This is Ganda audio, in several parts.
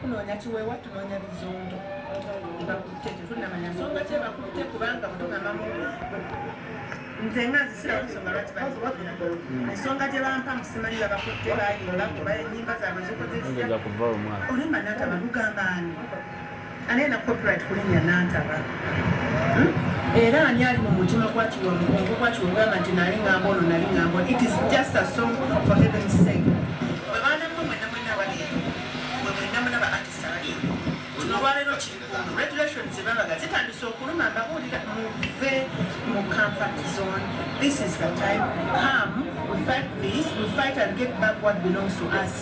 Tunoonya kiweewa, tunoonya bizundo. Bakutte tetunnamanya nsonga ki ebakutte kubanga bwe tugamamu nze nga nzisirawo ensonga lwaki bakuwagira ensonga gye bampa musimanyi babakutte bayimba kuba enyimba zaabwe zikoze zitya olimba nataba lugamba ani Ani alina copyright kulinya Nantaba? Era ani ali mu mutima gwa Kiwa Mugongo gwa Kiwa ogamba nti nali ngamba ono nali ngamba ono. It is just a song for heaven's sake. Mwe baana mwe mwenna mwenna abali eyo. Mwe mwenna muna ba artist abali eyo. Kino olwaleero kiri kuno. Regulations zebabaga zitandise okuluma mbabuulira muve mu comfort zone. This is the time. Come, we fight this, we fight and get back what belongs to us.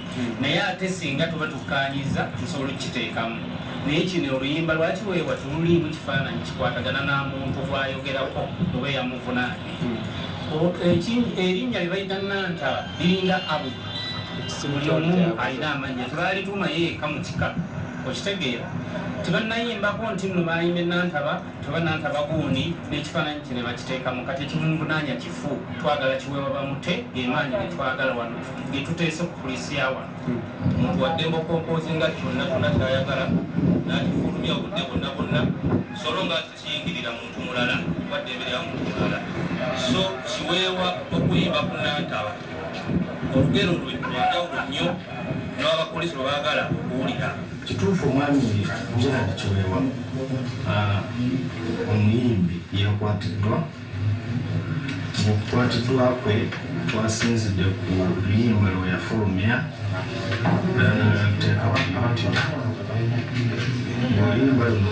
naye ate singa tuba tukkaanyizza nsobola okukiteekamu naye kino oluyimba lwaki weewa tululiimu kifaananyi kikwatagana na muntu gwayogerako oba eyamuvunaanye erinnya lye bayita nantaba liringa abu buli omu alina amannya tebaalitumayo eka mu kika okitegeera tebannayimbako nti nno baayimbe nantaba Tebananta bagundi n'ekifaananyi kye ne bakiteekamu kati ekivunvunaanya kifu twagala kiweebwa bamute gemaanyi ge twagala wano ge tuteese ku poliisi ya wano omuntu waddemba okompoozinga kyonna kyonna kyayagala n'akifulumya obudde bwonna bwonna solo nga kiyingirira muntu mulala waddembe lya muntu mulala so kiweebwa okuyimba ku nantaba olugero lwe lwandawulo nnyo newabakulisi lwebagala okuwulira kituufu omwami gerard kiwewa ah, omuyimbi yakwatiddwa mukukwatiddwa kwe twasinzidde ku luyimba lwe yafulumya teekawaatyo oluyimba luno